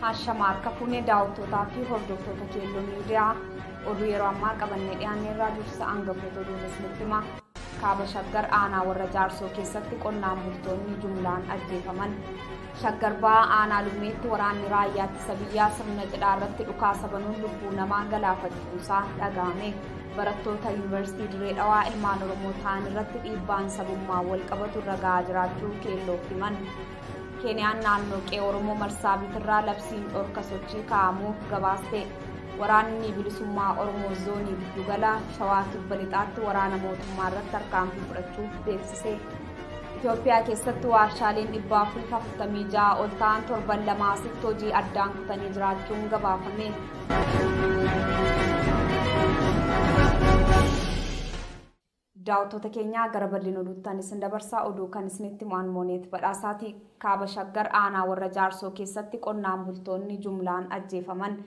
Hashama harka fuunee daawwattootaa fi hordoftoota keelloo miidiyaa oduu yeroo ammaa qabannee dhiyaannee irraa dursa aangafoota oduu isinitti hima. Kaaba Shaggar aanaa warra jaarsoo keessatti qonnaan bultoonni jumlaan ajjeefaman. Shaggar Bahaa Aanaa Lummeetti waraanni raayyaa ittisa biyyaa sirna cidhaa irratti dhukaasa banuun lubbuu namaa galaafachuusaa dhaga'ame. Barattoota Yuunivarsiitii Dirree Dhawaa ilmaan Oromoo ta'an irratti dhiibbaan sabummaan wal qabatu irra ga'aa jiraachuu keelloof himan. Keeniyaan naannoo qe'ee Oromoo Marsaabiitirraa labsiin dhorka sochii kaa'amuu gabaaste. Waraanni bilisummaa Oromoo zoonii giddugala Shawaa Kibba Lixaatti waraana mootummaa irratti tarkaanfii fudhachuu beeksise. Itoophiyaa keessatti waarshaaleen 446 ol ta'an torban lamaa asitti hojii addaan kutanii jiraachuun gabaafame. Daawwattoota keenyaa gara bal'ina oduuttan isin dabarsaa oduu kan isinitti himu mooneet badhaasaati kaaba shaggar aanaa warra jaarsoo keessatti qonnaan bultoonni jumlaan ajjeefaman.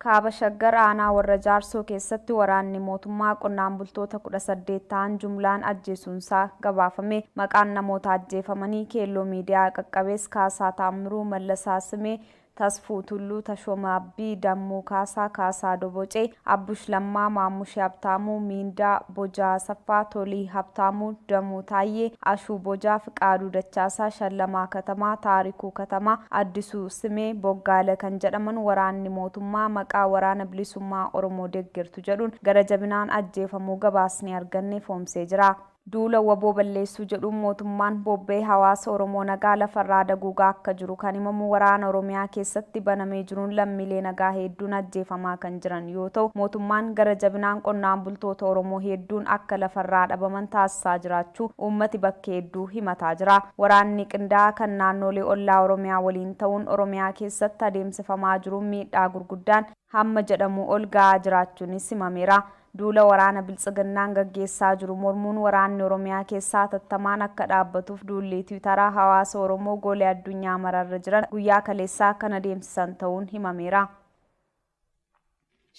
Kaaba Shaggar aanaa Warra Jaarsoo keessatti waraanni mootummaa qonnaan bultoota 18 ta'an jumlaan ajjeesuunsaa gabaafame. Maqaan namoota ajjeefamanii Keelloo Miidiyaa qaqqabees Kaasaa Taammiruu, Mallasaa Simee, Tasfuu Tulluu, Tashooma Abdii, Dammuu Kaasaa, Kaasaa Dobocee, Abbush Lammaa, Maammushee Habtaamuu, Miindaa, Bojaa Asaffaa, Tolii Habtaamuu, Damuu Taayyee, Ashuu Bojaa, Fiqaaduu Dachaasaa, Shallamaa Katamaa, Taarikuu Katamaa, Addisuu. Simee Boggaale kan jedhaman waraanni mootummaa maqaa Waraana Bilisummaa Oromoo deggertu jedhuun gara jabinaan ajjeefamuu gabaasni arganne ifoomsee jira. Duula wbo balleessuu jedhuun mootummaan bobba'ee hawaasa Oromoo nagaa lafarraa daguugaa akka jiru kan himamu waraana Oromiyaa keessatti banamee jiruun lammiilee nagaa heedduun ajjeefamaa kan jiran yoo ta'u, mootummaan gara jabinaan qonnaan bultoota Oromoo heedduun akka lafarraa dhabaman taasisaa jiraachuu uummati bakka heedduu himataa jira. Waraanni qindaa'aa kan naannoolee ollaa Oromiyaa waliin ta'uun Oromiyaa keessatti adeemsifamaa jiruun miidhaa gurguddaan hamma jedhamuu ol ga'aa jiraachuunis himameera. Duula waraana Biltsiginnaan gaggeessaa jiru mormuun waraanni Oromiyaa keessaa hatattamaan akka dhaabbatuuf duulli Tiwitaraa hawaasa Oromoo goole addunyaa mara irra jiran guyyaa kaleessaa kan adeemsisan ta'uun himameera.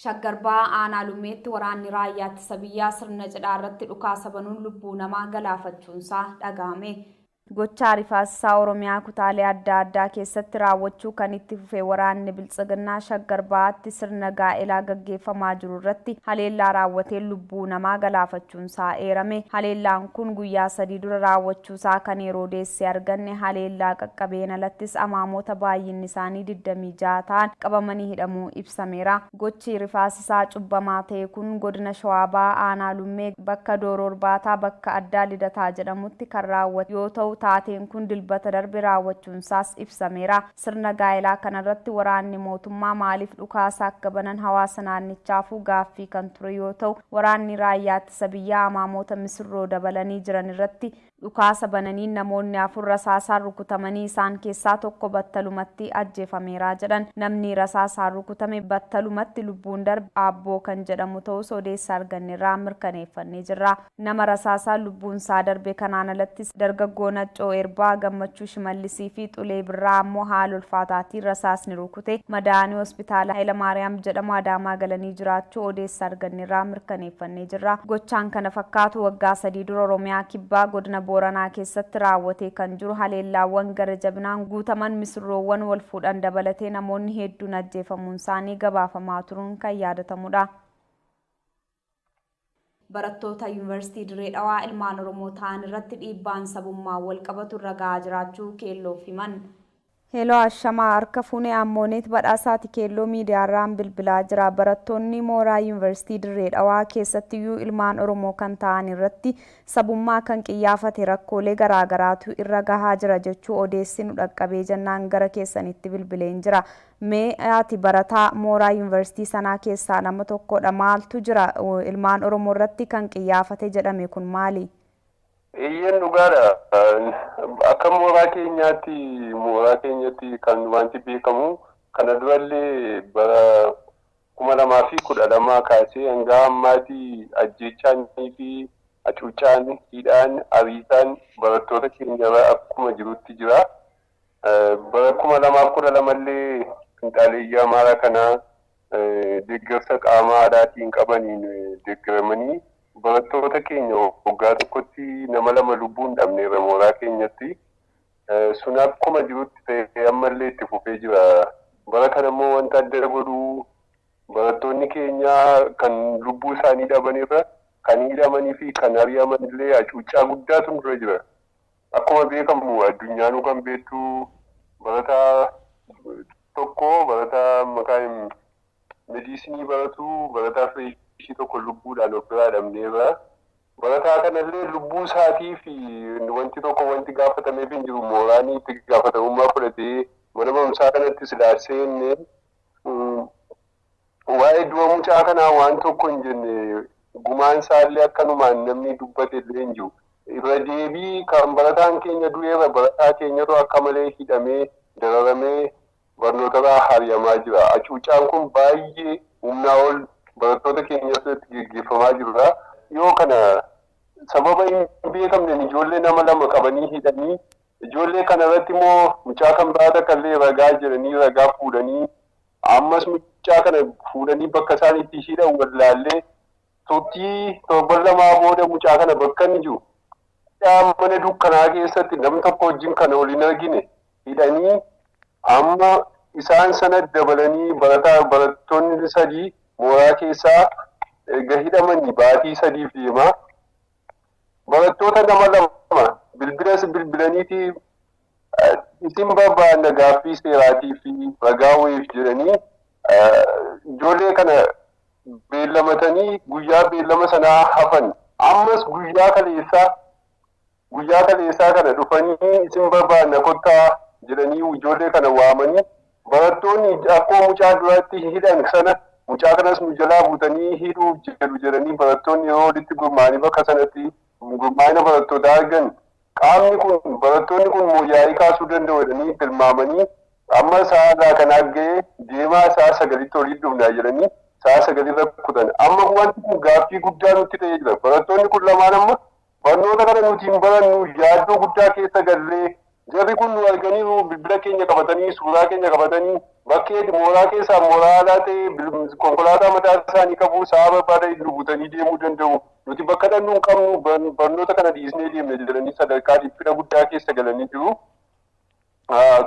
Shaggar Bahaa Aanaa Lummeetti waraanni Raayyaa Ittisa Biyyaa sirna cidhaa irratti dhukaasa banuun lubbuu namaa galaafachuunsaa dhagahame. Gochaa rifaasisaa Oromiyaa kutaalee adda addaa keessatti raawwachuu kan itti fufe waraanni Biltsiginnaa Shaggar Bahaatti sirna gaa'elaa gaggeeffamaa jiru irratti haleellaa raawwateen lubbuu namaa galaafachuu. jechuunsaa eerame. Haleellaan kun guyyaa sadii dura raawwachuusaa kan yeroo odeesse arganne, haleellaa qaqqabeen alattis amaamoota baay'innisaanii digdamii ja'a ta'an qabamanii hidhamuu ibsameera. Gochi rifaasisaa cubbamaa ta'e kun Godina Shawaa Bahaa Aanaa Lummee bakka Dooroo Irbaataa bakka addaa Lidataa jedhamutti kan raawwate yoo ta'u, taateen kun Dilbata darbe raawwachuunsaas ibsameera. Sirna gaa'elaa kanarratti waraanni mootummaa maaliif dhukaasa akka banan hawaasa naannichaafuu gaaffii kan ture yoo ta'u, waraanni Raayyaa Ittisa Biyyaa amaamoota misirroo dabalanii jiran irratti dhukaasa bananiin namoonni afur rasaasaan rukutamanii isaan keessaa tokko battalumatti ajjeefameera jedhan. Namni rasaasaan rukutame battalumatti lubbuun darbe Aabboo kan jedhamu ta'uus odeessa argannerraa mirkaneeffannee jirra. Nama rasaasaan lubbuunsaa darbe kanaan alattis dargaggoo Naccoo Erbaa, Gammachuu Shimallisii fi Xulee Birraa ammoo haala ulfaataatiin rasaasni rukute madaa'anii hospitaala Hayilamaariyaam jedhamu Adaamaa galanii jiraachuu odeessa argannerraa mirkaneeffannee jirra. Gochaan kana fakkaatu waggaa sadii dura Oromiyaa Kibbaa godina Booranaa keessatti raawwatee kan jiru haleellaawwan gara jabinaan guutaman misirroowwan wal fuudhan dabalatee namoonni hedduun ajjeefamuunsaanii gabaafamaa turuun kan yaadatamudha. Barattoota Yuunivarsiitii Dirree Dhawaa ilmaan Oromoo ta'an irratti dhiibbaan sabummaan wal qabatu irra gahaa jiraachuu Keelloof himan. Hello Ashamaa Harka fuune Ammooneet Badhaasaati Keelloo Miidiyaa irraan bilbilaa jira. Barattoonni mooraa Yuunivarsiitii Dirree Dhawaa keessattiyyuu ilmaan Oromoo kan ta'an irratti sabummaa kan qiyyaafate rakkoolee garaagaraatu irra gahaa jira jechuu odeessi nu dhaqqabee jennaan gara keessanitti bilbileen jira. Mee ati barataa mooraa Yuunivarsiitii sanaa keessaa nama tokkodha. Maaltu jira? Ilmaan Oromoo irratti kan qiyyaafate jedhame kun maali? Eeyyeen dhugaadha. Akka mooraa keenyaatti mooraa keenyatti kan wanti beekamu kana durallee bara kuma lamaa fi kudha lamaa kaasee hanga ammaatti ajjeechaanii fi hacuuccaan, hidhaan, ariisaan barattoota keenyarra akkuma jirutti jira. Bara 2012 illee finxaaleeyyii Amaaraa kana deeggarsa qaama alaatiin qabaniin deeggaramanii barattoota keenya waggaa tokkotti nama lama lubbuun dhabneerra mooraa keenyatti. Sun akkuma jirutti ta'ee ammallee itti fufee jira. Bara kana immoo wanta adda godhu barattoonni keenya kan lubbuu isaanii dhabanirra kan hidhamanii fi kan ari'aman illee hacuuccaa guddaatu nurra jira. Akkuma beekamu addunyaanuu kan beektu barataa tokko barataa maqaa mediisinii baratu barataa fireeshii tokko lubbuudhaan of biraa dhabneerra. Barataa kanallee lubbuu isaatii fi wanti tokko wanti gaafatameef hin jiru mooraanii itti gaafatamummaa fudhatee mana barumsaa kanatti silaa seenne Waa'ee du'a mucaa kanaa waan tokko hin jenne, gumaan isaallee akkanumaan namni dubbatellee hin jiru. Irra deebii kan barataan keenya du'eera, barataa keenyatu akka malee hidhamee, dararamee barnootarraa hari'amaa jira. Acuuccaan kun baay'ee humnaa ol barattoota keenyarratti geggeeffamaa jirudha. Dhiyoo kana sababa hin beekamneen ijoollee nama lama qabanii hidhanii, ijoollee kanarratti immoo mucaa kan biraa takkallee ragaa jedhanii ragaa fuudhanii Ammas mucaa kana fuudhanii bakka isaan itti hidhan wallaallee turtii torban lamaa booda mucaa kana bakka inni jiru hidhaa mana dukkanaa keessatti nam tokko wajjin kan ol hin argine hidhanii amma isaan sana dabalanii barataa barattoonni sadii mooraa keessaa erga hidhamanii baatii sadiif deemaa barattoota nama lama bilbilas bilbilaniiti Isin barbaanna gaaffii seeraatii fi ragaa wayiif jedhanii ijoollee kana beellamatanii guyyaa beellama sanaa hafan. Ammas guyyaa kaleessaa guyyaa kaleessaa kana dhufanii isin barbaanna kottaa jedhanii ijoollee kana waamanii barattoonni akkoo mucaa duratti hidhan sana mucaa kanas nu jalaa buutanii hidhuuf jedhu jedhanii barattoonni yeroo walitti gurmaa'anii bakka sanatti gurmaa'ina barattootaa argan Qaamni kun barattoonni kun moo yaa'ii kaasuu danda'u jedhanii tilmaamanii amma sa'a irraa kanaa ga'e deemaa sa'a sagalitti walitti dhufnaa jedhanii sa'a sagalirra kutan. Amma wanti kun gaaffii guddaa nutti ta'ee jira. Barattoonni kun lamaan amma barnoota kana nuti hin barannu yaaddoo guddaa keessa gallee jarri kun nu arganiiru bilbila keenya qabatanii suuraa keenya qabatanii bakkeeti mooraa keessaa mooraa alaa ta'e konkolaataa mataa isaanii qabu sa'a barbaadanii nu butanii deemuu danda'u. Nuti bakka dhaqnu hin qabnu, barnoota kana dhiisnee deemna jedhanii sadarkaa dhiphina guddaa keessa galanii jiru.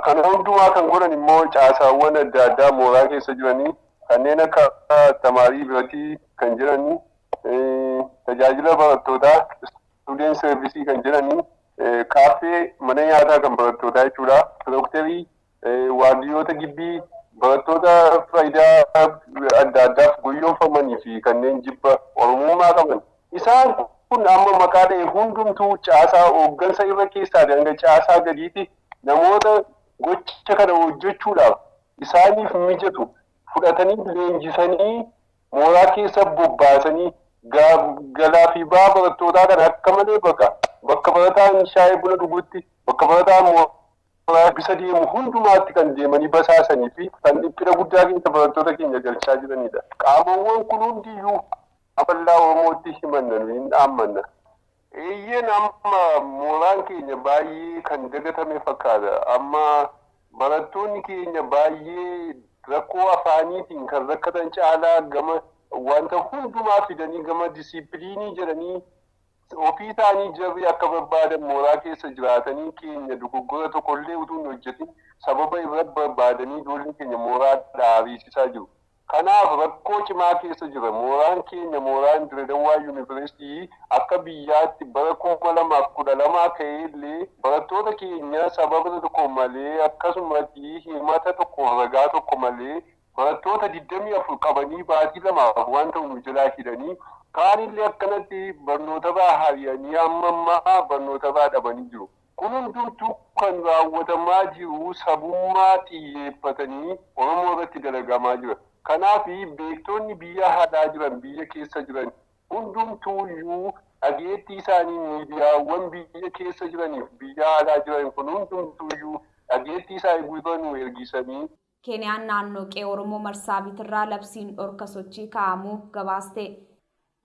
Kana hundumaa kan godhan immoo caasaawwan adda addaa mooraa keessa jiranii kanneen akka tamaarii biratii kan jedhanii tajaajila barattootaa student service kan jedhanii kaaffee mana nyaataa kan barattootaa jechuudha. Dokterii Waardiyyoota gibbii, barattoota faayidaa adda addaaf goyyomfamanii fi kanneen jibba Oromummaa qaban. Isaan kun amma maqaa dha'e hundumtuu caasaa hooggansa irra keessaatii hanga caasaa gadiitti namoota gocha kana hojjechuudhaaf isaaniif mijatu fudhatanii leenjisanii mooraa keessa bobbaasanii galaa fi ba'aa barattootaa kana akka malee baqa. Bakka barataan shaayee buna dhugutti, bakka barataan Gaabbisa deemu hundumaatti kan deemanii basaasanii fi kan dhiphina guddaa keessa barattoota keenya galchaa jiranidha. Qaamawwan kun hundiyyuu akka bal'aa Oromootti himanna nuyi hin dhaammanna. Eeyyeen amma mooraan keenya baay'ee kan dagatame fakkaata. Amma barattoonni keenya baay'ee rakkoo afaaniitiin kan rakkatan caalaa gama wanta hundumaa fidanii gama disiippiliinii jedhanii Ofii isaanii jarri akka barbaadan mooraa keessa jiraatanii keenya dogoggora tokollee utuu hin hojjetin sababa irra barbaadanii ijoollee keenya mooraadhaa ariisisaa jiru. Kanaaf rakkoo cimaa keessa jirra. Mooraan keenya mooraan Diredawaa Yuniversity akka biyyaatti bara 2012 ka'eellee barattoota keenya sababna tokko malee akkasumati himata tokkoof ragaa tokko malee Barattoota 24 qabanii baatii lamaaf waan ta'u nu jalaa hidhanii kaanillee akkanatti barnootabaa hari'anii amma ammaa barnootabaa dhabanii jiru. Kun hundumtuu kan raawwatamaa jiru sabummaa xiyyeeffatanii Oromoo irratti dalagamaa jira. Kanaaf beektoonni biyya alaa jiran biyya keessa jiran hundumtuuyyuu dhageettii isaanii miidiyaawwan biyya keessa jiraniif biyya alaa jiran kun hundumtuuyyuu dhageettii isaanii gurra nuu ergisanii, Keeniyaan naannoo qe'ee Oromoo Marsaabiitirraa labsiin dhorka sochii kaa'amu gabaaste.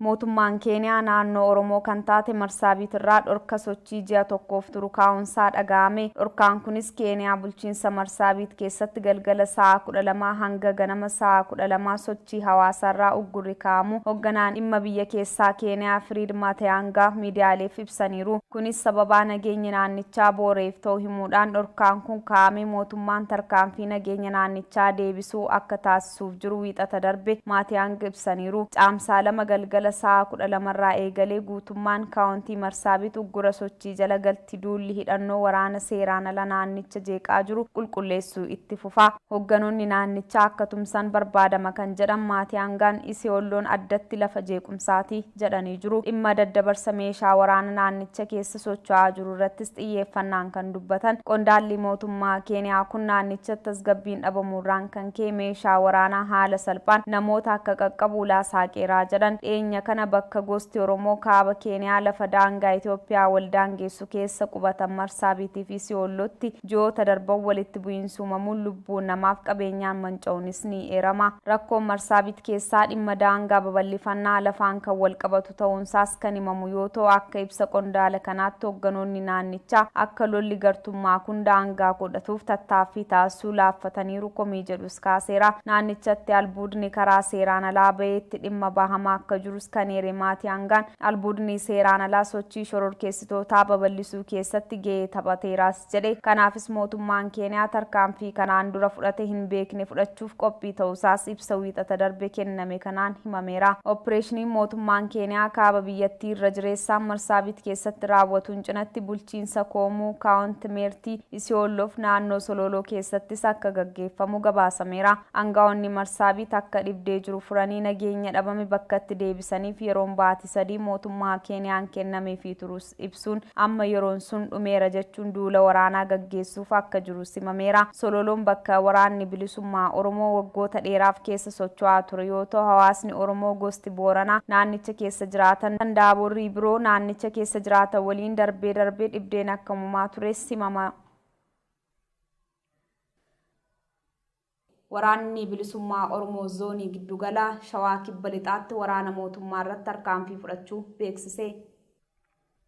Mootummaan Keeniyaa naannoo Oromoo kan taate Marsaabiitirraa dhorka sochii ji'a tokkoof turu kaa'uunsaa dhaga'ame. Dhorkaan kunis Keeniyaa bulchiinsa Marsaabiit keessatti galgala sa'a 12:00 hanga ganama sa'a 12:00 sochii hawaasaarraa uggurri kaa'amu hogganaan dhimma biyya keessaa Keeniyaa Firiid Matiyaangaa miidiyaaleef ibsaniiru. ibsaniiru. Kunis sababaa nageenyi naannichaa booreef ta'u himuudhaan dhorkaan kun kaa'ame mootummaan tarkaanfii nageenya naannichaa deebisuu akka taasisuuf jiru Wiixata darbe Maatiyaang ibsaniiru. Caamsaa 2 galgala sa'a 12 irraa eegalee guutummaan Kaawontii Marsaabit uggura sochii jala galti duulli hidhannoo waraana seeraan ala naannicha jeeqaa jiru qulqulleessuu itti fufa. Hoogganoonni naannichaa akka tumsan barbaadama kan jedhan Maatiyaangaan, Isiyoolloon addatti lafa jeequmsaati. jedhanii jiru. Dhimma daddabarsa meeshaa waraana naannicha keessa socho'aa jiru irrattis xiyyeeffannaan kan dubbatan qondaalli mootummaa Keeniyaa kun naannichatti tasgabbiin dhabamuurraan kan ka'e meeshaa waraanaa haala salphaan namoota akka qaqqabu ulaa saaqeeraa jedhan. Dhiyeenya kana bakka gosti Oromoo kaaba Keeniyaa lafa daangaa Itoophiyaa wal daangeessu keessa qubatan Marsaabiitiifi Siwoollotti Ji'oota darban walitti bu'iinsi uumamuun lubbuun namaaf qabeenyaan manca'uunis ni eerama. Rakkoon Marsaabit keessaa dhimma daangaa babal'ifannaa lafaan kan walqabatu ta'uunsaas kan himamu yoo ta'u, akka ibsa qondaala kanaatti hogganoonni naannichaa akka lolli gartummaa kun daangaa godhatuuf tattaaffii taasisuu laaffataniiru komii jedhus kaaseera. Naannichatti albuudni karaa seeraan alaa ba'ee itti dhimma bahamaa akka jirus kan eere Maatiyaangaan, Albuudni seeraan alaa sochii shororkeessitootaa babal'isuu keessatti gahee taphateeraas jedhe. Kanaafis mootummaan Keeniyaa tarkaanfii kanaan dura fudhate hin beekne fudhachuuf qophii ta'uusaas ibsa Wiixata darbe kenname kanaan himameera. Oppireeshiniin mootummaan Keeniyaa kaaba biyyattii irra jireessaan Marsaabit keessatti raawwatuun cinatti bulchiinsa Koomuu, Kaawont Meertii, Isiyoollof naannoo Solooloo keessattis akka gaggeeffamu gabaasameera. Angawoonni Marsaabiit akka dhibdee jiru furanii nageenya dhabame bakkatti deebisaniif yeroon baati sadii mootummaa Keeniyaan kennameefii turus ibsuun amma yeroon sun dhumeera jechuun duula waraanaa gaggeessuuf akka jiru simameera. Sololoon bakka Waraanni Bilisummaa Oromoo waggoota dheeraaf keessa socho'aa ture yoo ta'u hawaasni Oromoo gosti Booranaa naannicha keessa jiraatan kan Daaborrii biroo naannicha keessa jiraatan waliin darbee darbee dhibdeen akka uumamaa tures himama. Waraanni Bilisummaa Oromoo Zoonii Giddu Galaa Shawaa Kibba Lixaatti waraana mootummaa irratti tarkaanfii fudhachuu beeksise.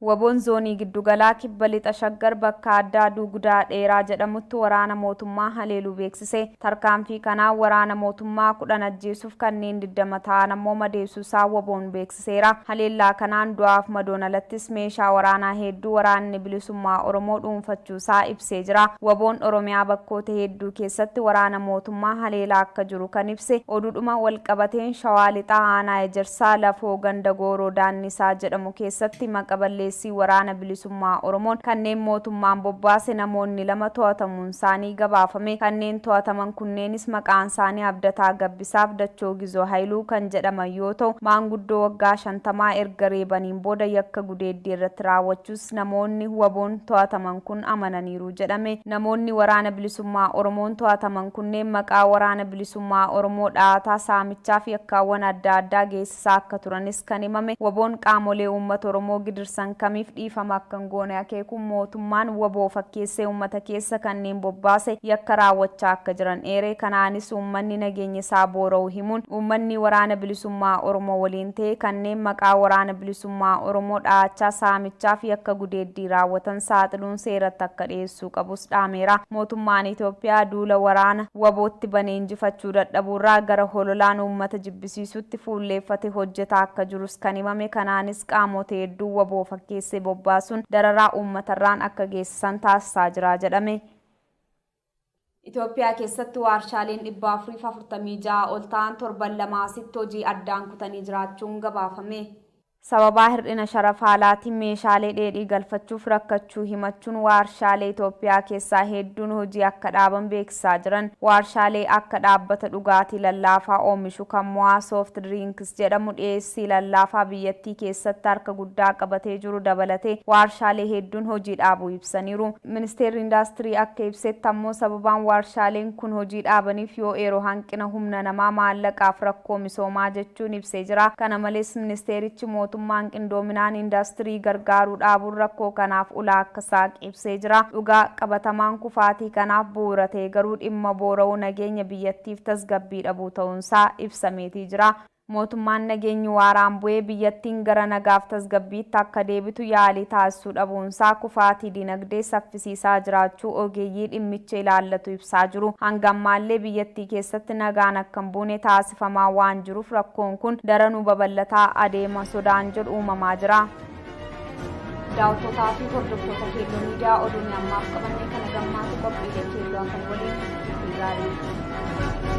Wabon Zoonii Giddu Galaa Kibba Lixa Shaggar bakka addaa Duugudaa Dheeraa jedhamutti waraana mootummaa haleeluu beeksise. Tarkaanfii kanaan waraana mootummaa 10 ajjeesuuf kanneen 20 ta'an ammoo madeesuu isaa wbon beeksise. seera. Haleellaa kanaan du'aaf madoon alattis meeshaa waraanaa heedduu Waraanni Bilisummaa Oromoo dhuunfachuu isaa ibsee jira. Wboon Oromiyaa bakkoota heedduu keessatti waraana mootummaa haleelaa akka jiru kan ibse oduudhuma wal qabateen Shawaa Lixaa Aanaa Ejersaa Lafoo ganda Gooroo Daannisaa jedhamu keessatti maqa balleessii Waraana Bilisummaa Oromoon kanneen mootummaan bobbaase namoonni lama to'atamuun isaanii gabaafame. Kanneen to'ataman kunneenis maqaan isaanii Abdataa Gabbisaan, Isaaf Dachoo Gizoo Hayiluu kan jedhaman yoo ta'u, maanguddoo waggaa shantamaa erga reebaniin booda yakka gudeeddii irratti raawwachuus namoonni wabon to'ataman kun amananiiru jedhame. Namoonni Waraana Bilisummaa Oromoon to'ataman kunneen maqaa Waraana Bilisummaa Oromoo dhahataa saamichaa fi yakkaawwan adda addaa geessisaa saa akka turanis kan himame wbo'n qaamolee uummata Oromoo gidirsan kamiif dhiifama akka hin goone akeekuun mootummaan wbo fakkeessee uummata keessa kanneen bobbaase yakka raawwachaa akka jiran eeree kanaanis uummanni nageenya isaa boora'u himuun uummanni Waraana Bilisummaa Oromoo waliin ta'ee kanneen maqaa Waraana Bilisummaa Oromoo dhahachaa saamichaa fi yakka gudeeddii raawwatan saaxiluun seeratti akka dhiyeessuu qabus dhaameera. Mootummaan Itoophiyaa duula waraana wbo tti bane injifachuu dadhabuurraa gara hololaan uummata jibbisiisuutti dhabamsiisuutti fuulleeffate hojjetaa akka jirus kan himame kanaanis qaamoota hedduu wbo fakkeessee bobbaasuun dararaa uummatarraan akka geessisan taasisaa jira jedhame. Itoophiyaa keessatti waarshaaleen 446 ol ta'an torban lamaa asitti hojii addaan kutanii jiraachuun gabaafame. Sababaa hir'ina sharafaa alaatiin meeshaalee dheedhii galfachuuf rakkachuu himachuun waarshaalee Itoophiyaa keessaa hedduun hojii akka dhaaban beeksisaa jiran. Waarshaalee akka dhaabbata dhugaatii lallaafaa oomishu kan Mo'aa Soft Drinks jedhamu dhiyeessii lallaafaa biyyattii keessatti harka guddaa qabatee jiru dabalatee waarshaalee hedduun hojii dhaabuu ibsaniiru. Ministeerri Indaastirii akka ibsetti ammoo sababaan waarshaaleen kun hojii dhaabaniif yoo eeru hanqina humna namaa, maallaqaaf rakkoo misoomaa jechuun ibsee jira. Kana malees ministeerichi mootummaan qindoominaan indaastirii gargaaruu dhaabuun rakkoo kanaaf ulaa akka saaqe ibsee jira. Dhugaa qabatamaan kufaatii kanaaf bu'uura ta'e garuu dhimma boora'uu nageenya biyyattiif tasgabbii dhabuu ta'uunsaa ibsameetii jira. Mootummaan nageenyi waaraan bu'ee biyyattiin gara nagaaf tasgabbiitti akka deebitu yaalii taasisuu dhabuunsaa kufaatii dinagdee saffisiisaa jiraachuu ogeeyyii dhimmicha ilaallatu ibsaa jiru. Hanga ammaallee biyyattii keessatti nagaan akka hin buune taasifamaa waan jiruuf rakkoon kun daranuu babal'ataa adeema sodaan jedhu uumamaa jira. daawwattotaa fi hordoftoota keelloo miidiyaa oduun ammaaf qabannee kana gammaatu qophiilee keelloo afan waliin turtii gaarii.